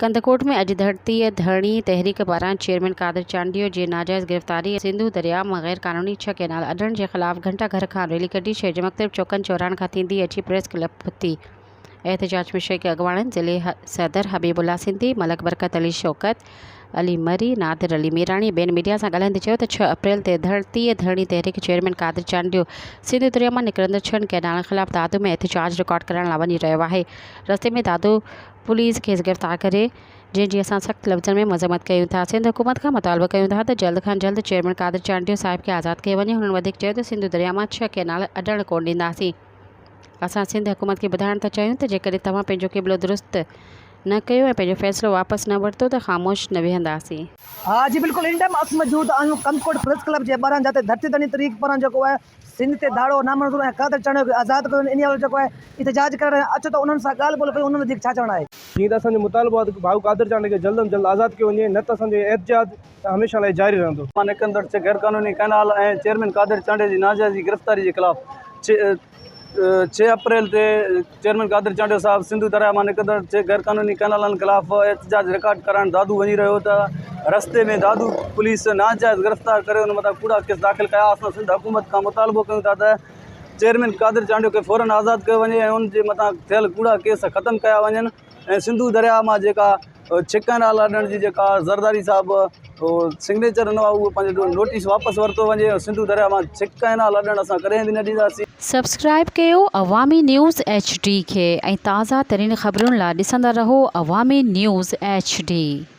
ڪنڌڪوٽ ۾ اڄ ڌرتيء ڌرڻي تحريڪ پاران چيئرمين قادر چانڊيو جي ناجائز گرفتاري ۽ سنڌو درياء مان غير قانوني ڇهه ڪئنال اڏڻ جي خلاف گهنٽا گهر کان ريلي ڪڍي شهر جي مختلف چوڪن چوراهن کان ٿيندي اچي پريس ڪلب پھتي. احتجاج ۾ شريڪ اڳواڻن ضلعي صدر حبيب الله سنڌي، ملڪ برڪت علي شوڪت علي مري، نادر علي ميراڻي ٻين ميڊيا سان ڳالهائيندي چيو ته ڇهه اپريل تي ڌرتيء ڌرڻي تحريڪ چيئرمين قادر چانڊيو سنڌو درياء مان نڪرندڙ ڇهن ڪئنالن خلاف دادو ۾ احتجاج رڪارڊ ڪرائڻ لا وڃي رهيو آهي رستي ۾ دادو پوليس کيس گرفتار ڪري جنهن جي اسان سخت لفظن ۾ مذمت ڪيون ٿا سنڌ حڪومت کان مطالبو ڪيون ٿا ته جلد کان جلد چيئرمين قادر چانڊيو صاحب کي آزاد ڪيو وڃي هنن وڌيڪ چيو ته سنڌو درياء مان ڇهه ڪئنال اڏڻ ڪونه ڏينداسين اسان سنڌ حڪومت کي ٻڌائڻ ٿا چاهيون ته جيڪڏهن توهان پنهنجو قبلو درست نه ڪيو ۽ پنهنجو فيصلو واپس نه ورتو ته خاموش نه ويهنداسين. ها جي بلڪل ان ٽائيم اسمجود آهيون ڪنڌڪوٽ پريس ڪلب جي ٻاهران جاتي ڌرتي ڌڻي طريق پاران جيڪو آهي سنڌ تي ڌاڙو نامنظور ۽ قاتل چانڊيو کي آزاد ڪيو وڃي انهي حوالي جيڪو آهي احتجاج ڪرڻ ۽ اچ ته انهن سان ڳالهه ٻولهه ڪيون انهن وڌيڪ ڇا چوڻ آهي. ائين ته اسان جو مطالبو آهي ته ڀائو قادر چانڊيو کي جلد ام جلد آزاد ڪيو وڃي نه ته اسان جو احتجاج هميشه لاء جاري رهندو. مان نڪندڙ چھ غير قانوني ڪئنال ۽ چيئرمين قادر چانڊيو جي ناجائزي گرفتاري جي خلاف چھ اپريل تي چيئرمين قادر چانڊيو صاحب سنڌو درياهه مان نڪرندڙ ٽي غيرقانوني ڪئنالن خلاف احتجاج رڪارڊ ڪرائڻ دادو وڃي رهيو هو ته رستي ۾ دادو پوليس ناجائز گرفتار ڪري ان مٿان ڪوڙا ڪيس داخل ڪيا اسان سنڌ حڪومت کان مطالبو ڪيون ٿا ته چيئرمين قادر چانڊيو کي فورن آزاد ڪيو وڃي ۽ ان جي مٿان ٿيل ڪوڙا ڪيس ختم ڪيا وڃن ۽ سنڌو درياهه مان جيڪا ڇڪن آلا ڏيڻ جي جيڪا زرداري صاحب سگنيچر ڏنو آهي اهو پنهنجو نوٽيس واپس ورتو وڃي سنڌو دريا مان ڇڪ ۽ نالا ڏيڻ اسان ڪڏهن به نه ڏينداسين. سبسڪرائيب ڪيو عوامي نيوز ايڇ ڊي کي ۽ تازه ترين خبرن لا ڏسندا رهو عوامي نيوز ايڇ ڊي.